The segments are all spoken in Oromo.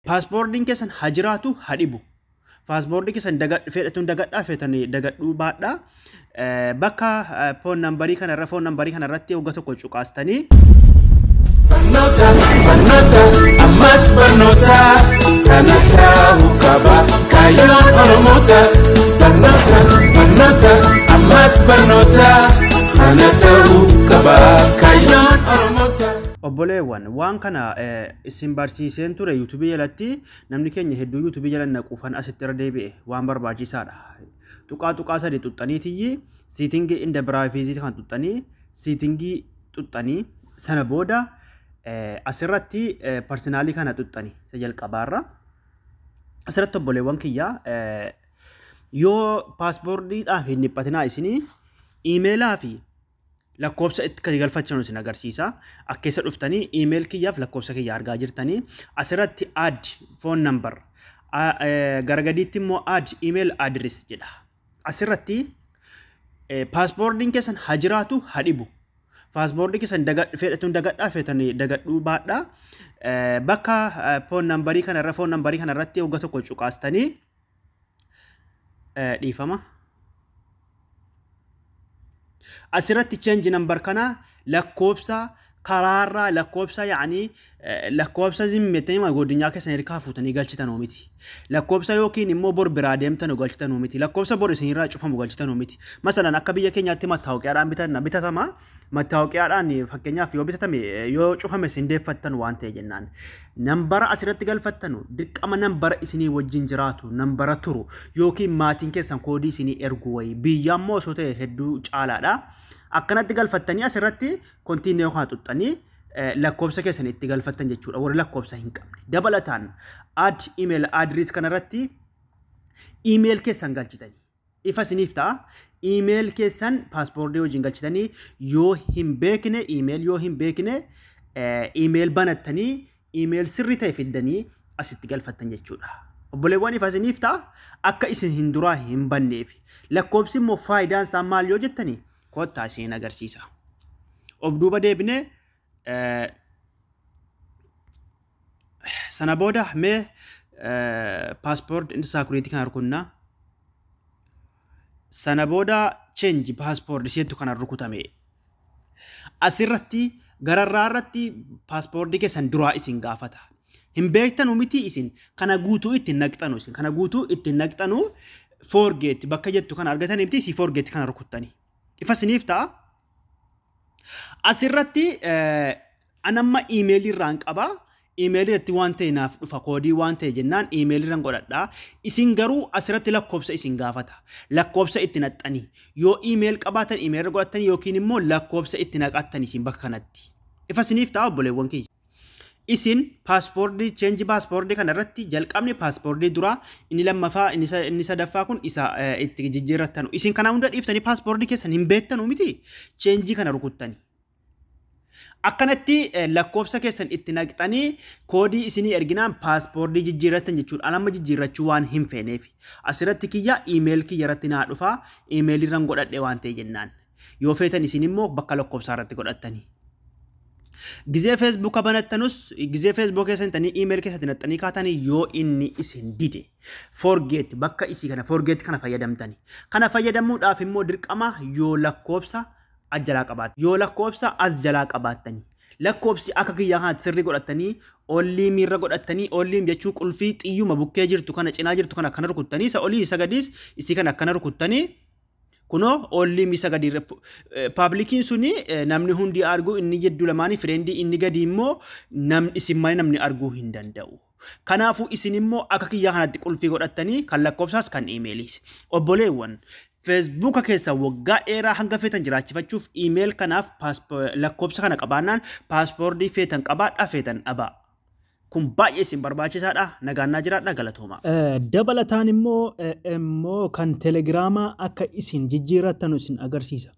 Paaspoordiin keessan ha jiraatu ha dhibu. Paaspoordii keessan dagadhu fedhatuun dagadhaa feetan dagadhuu baadhaa eh, bakka eh, foon nambarii kana irra foon nambarii kana irratti wagga tokko cuqaastanii Barnoota, barnoota, ammas barnoota, kana ta'uu qaba kaayyoon Oromoota. Barnoota, barnoota, ammas barnoota, kana ta'uu qaba kaayyoon Oromoota. obboleewwan waan kana eh, Isin barsiiseen ture YouTube jalatti namni keenya hedduu YouTube jala naquufan asitti irra deebi'e waan barbaachisaadha. Tuqaa tuqaa sadi xuxxanii tiyyi siitingii inda biraafiizii kan xuxxanii siitingii xuxxanii sana booda asirratti parsinaalii kana xuxxanii isa jalqabaarra. Asirratti obboleewwan kiyya yoo paaspoordiidhaaf hin dhiphatinaa isinii iimeelaa fi lakkoofsa itti galfachan isin agarsiisa. Akka keessa dhuftanii email kiyyaaf lakkoofsa kiyya argaa jirtanii asirratti add phone number gara gadiitti immoo add email address jedha. Asirratti paaspoordiin keessan ha jiraatu ha dhibu. Paaspoortii keessan feedhatuun dagadhaa feetanii dagadhuu baadhaa bakka foon nambarii kanarra foon nambarii kanarratti wagga tokko cuqaastanii dhiifama asirratti change number kana lakkoobsa karaarraa lakkoobsa yaanii lakkoobsa zimmettanii godinyaa keessan hirkaa fuutanii galchitan miti lakkoobsa yookiin immoo bor biraa deemtan galchitan miti lakkoobsa bor isinirraa cufamu galchitan miti masalan akka biyya keenyaatti mattaawqiyaadhaan bitatama mattaawoqiyaadhaan fakkeenyaaf yoo bitatame yoo cufame isin deeffattan waan ta'e jennaan nambara asirratti galfattanu dirqama nambara isinii wajjin jiraatu nambara turu yookiin maatiin keessan koodii isinii ergu wayii biyya immoo osoo ta'e hedduu caalaadha akkanatti galfattanii asirratti kontiinee kana xuxxanii lakkoobsa keessan itti galfattan jechuudha warri lakkoobsa hin qabne dabalataan ad email address kanarratti email keessan galchitanii ifa isiniif ta'a. Email keessan paaspoortii wajjin galchitanii yoo hin beekne email yoo hin beekne email banattanii email sirri ta'e fiddanii asitti galfattan jechuudha. Obboleewwan ifa isiniif ta'a akka isin hin duraa hin banneef. Lakkoobsi immoo faayidaan isaa maal yoo jettanii kottaa isin agarsiisa. Of duuba deebinee Sana booda mee paaspoort inni saakuriitii kana rukunna. Sana booda cheenji paaspoort isheetu kana rukutame. Asirratti gararraa irratti paaspoortii keessan duraa isin gaafata. Hin beektanu miti isin kana guutuu ittiin naqxanu isin kana guutuu ittiin naqxanu foorgeetti bakka jettu kana argatanii miti isii foorgeetti kana rukuttani. Ifa isiniif ta'a. Asirratti anamma iimeelii irraan qaba. Iimeelii irratti waan ta'e naaf dhufa koodii waan ta'e jennaan iimeelii irran godhadha. Isin garuu asirratti lakkoofsa isin gaafata. Lakkoofsa itti naqxanii yoo iimeel qabaatan iimeel irra godhattanii yookiin immoo lakkoofsa itti naqattan isin bakka kanatti. Ifa isiniif ta'a obboleewwan kiyya. Isin paaspoortii cheenji paaspoortii kana irratti jalqabni paaspoortii duraa inni lammaffaa inni sa- inni sadaffaa kun isa eh, itti jijjiirrattanu. Isin kana hunda dhiiftanii paaspoortii keessan hin beektanu miti cheenjii kana rukuttani. Akkanatti eh, lakkoofsa keessan itti naqxanii koodii isinii erginaan paaspoortii jijjiirrattan jechuudha. An amma jijjiirrachuu waan hin feeneef. Asirratti kiyya iimeel kiyya irratti naa dhufa iimeelii irran godhadhe waan ta'e jennaan. Yoo feetan isin immoo bakka lakkoofsaa irratti godhattanii. Gizee feesbuuka banattanus gizee feesbuuka keessan tanii iimeeli keessatti naxxanii kaatanii yoo inni isin dide forgeet bakka isii kana forgeet kana fayyadamtani. Kana fayyadamuudhaaf immoo dirqama yoo lakkoofsa as jalaa qabaattan yoo lakkoofsa as jalaa qabaattani. Lakkoofsi akka kiyyaa kanatti sirrii godhattanii olliim irra godhattanii olliim jechuun qulfii xiyyuma bukkee jirtu kana cinaa jirtu kana akkana rukuttanii isa olii isa gadiis isii kana akkana rukuttanii Kunoo oolliim isa gadi irra paablikiin suni namni hundi argu inni jidduu lamaanii fireendii inni gadi immoo nam isin malee namni arguu hin danda'u. Kanaafuu isin immoo akka kiyyaa kanatti qulfii godhattanii kan lakkoofsaas kan iimeeliis. Obboleewwan feesbuuka keessa waggaa dheeraa hanga feetan jiraachifachuuf iimeel kanaaf lakkoofsa kana qabaannaan paaspoordii feetan qabaadhaa feetan dhabaa. Kun baay'ee isin barbaachisaadha. Nagaan naa jiraadha galatooma. Dabalataan immoo immoo kan telegiraamaa akka isin jijjiirrattanu isin agarsiisa.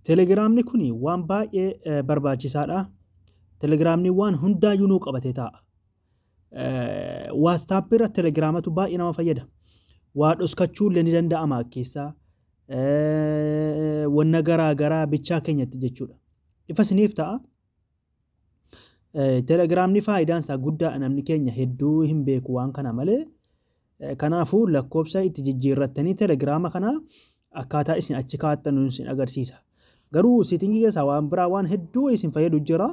Telegiraamni kun waan baay'ee barbaachisaadha. Telegiraamni waan hundaayyuu nuu qabatee taa'a. Waastaappii irra telegiraamatu baay'ee nama fayyada. Waa dhoskachuu illee ni danda'ama keessaa. Wanna garaa garaa bichaa keenyatti jechuudha. Ifa isiniif ta'a. Telegiraamni faayidaan isaa guddaa namni keenya hedduu hin beeku waan kana malee kanaafuu lakkoofsa itti jijjiirrattanii telegiraama kana akkaataa isin achi kaa'attan isin agarsiisa. Garuu seetingii keessaa waan biraa waan hedduu isin fayyadu jira.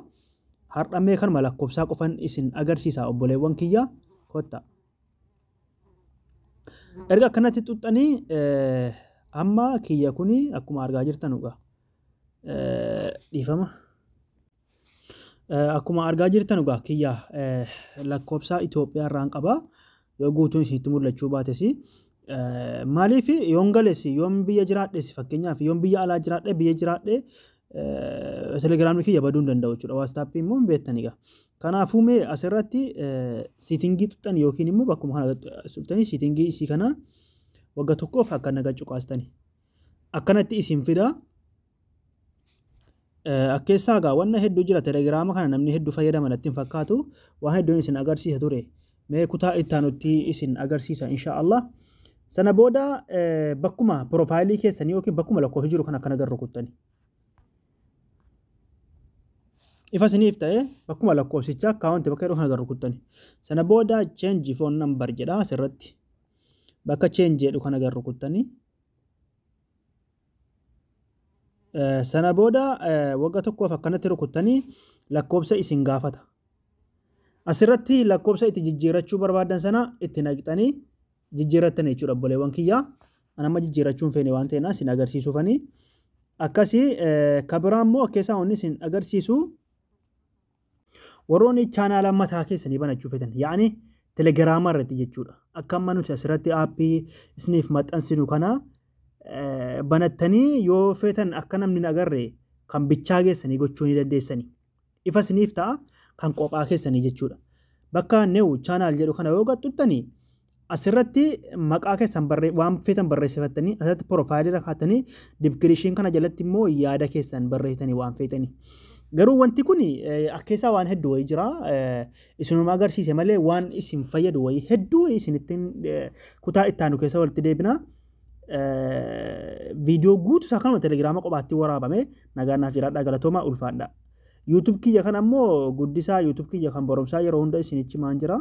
Har'ammee kanuma lakkoofsaa qofan isin agarsiisa obboleewwan kiyya kotta. Erga akkanatti xuxxanii amma kiyya kuni akkuma argaa jirtan dhugaa. dhiifama. Akkuma argaa jirtan egaa kiyya lakkoofsa Itoophiyaa irraan qaba. Yoo guutuun isinitti mul'achuu baates maaliif yoon gales yoon biyya jiraadhes fakkeenyaaf yoon biyya alaa jiraadhe biyya jiraadhe telegiraamii kiyya baduu hin danda'u jechuudha. Waastaappii immoo hin beektan egaa. Kanaafuu mee asirratti siitingii tuttan yookiin immoo bakkuma kana tuttanii siitingii isii kana wagga tokkoof akka naga cuqaastani. akkanatti isin fida akkeessaa egaa wanna hedduu jira telegiraama kana namni hedduu fayyadama natti hin fakkaatu waan hedduun isin agarsiisa ture mee kutaa ittaanutti isin agarsiisa insha Allah sana booda bakkuma piroofaayilii keessanii yookiin bakkuma lakkoofsi jiru kan akkana garru kuttani ifa isiniif ta'e bakkuma lakkoofsicha akkaawunti bakka jedhu kana garru kuttani sana booda cheenji foon nambar jedha asirratti bakka cheenji jedhu kana garru kuttani Sana booda wagga tokkoof akkanatti rukuttanii lakkoobsa isin gaafata. Asirratti lakkoobsa itti jijjiirrachuu barbaadan sana itti naqxanii jijjiirrattan jechuudha obboleewwan kiyyaa. An amma jijjiirrachuun feene waan ta'eef isin agarsiisuufanii. Akkasii kabiraan immoo keessaa wanni isin agarsiisu Warroonni chaanaala mataa keessanii banachuu fetan yaani telegiraama irratti jechuudha. Akka amma nuti asirratti aappii isiniif maxxansinu kana banattanii yoo feetan akka namni hin agarre kan bichaa keessanii gochuu ni dandeessani. Ifa isiniif ta'a kan qophaa keessanii jechuudha. Bakka new channel jedhu kana yoo qaxxuttani Asirratti maqaa keessan barree waan feetan barreessifattanii asirratti piroofaayilii irra kaatanii dibkirishiin kana jalatti immoo yaada keessan barreessitanii waan feetanii. Garuu wanti kun akkeessaa waan hedduu wayii jira. Isinuma agarsiise malee waan isin fayyadu wayii hedduu wayii isinittiin kutaa itti aanu keessa walitti deebina. Viidiyoo guutuu isaa kanuma telegiraama kophaatti waraabame nagaan naaf jiraadhaa galatoomaa ulfaadhaa. YouTube kiyya kan ammoo guddisaa YouTube kiyya kan barumsaa yeroo hunda isinichi maan jira.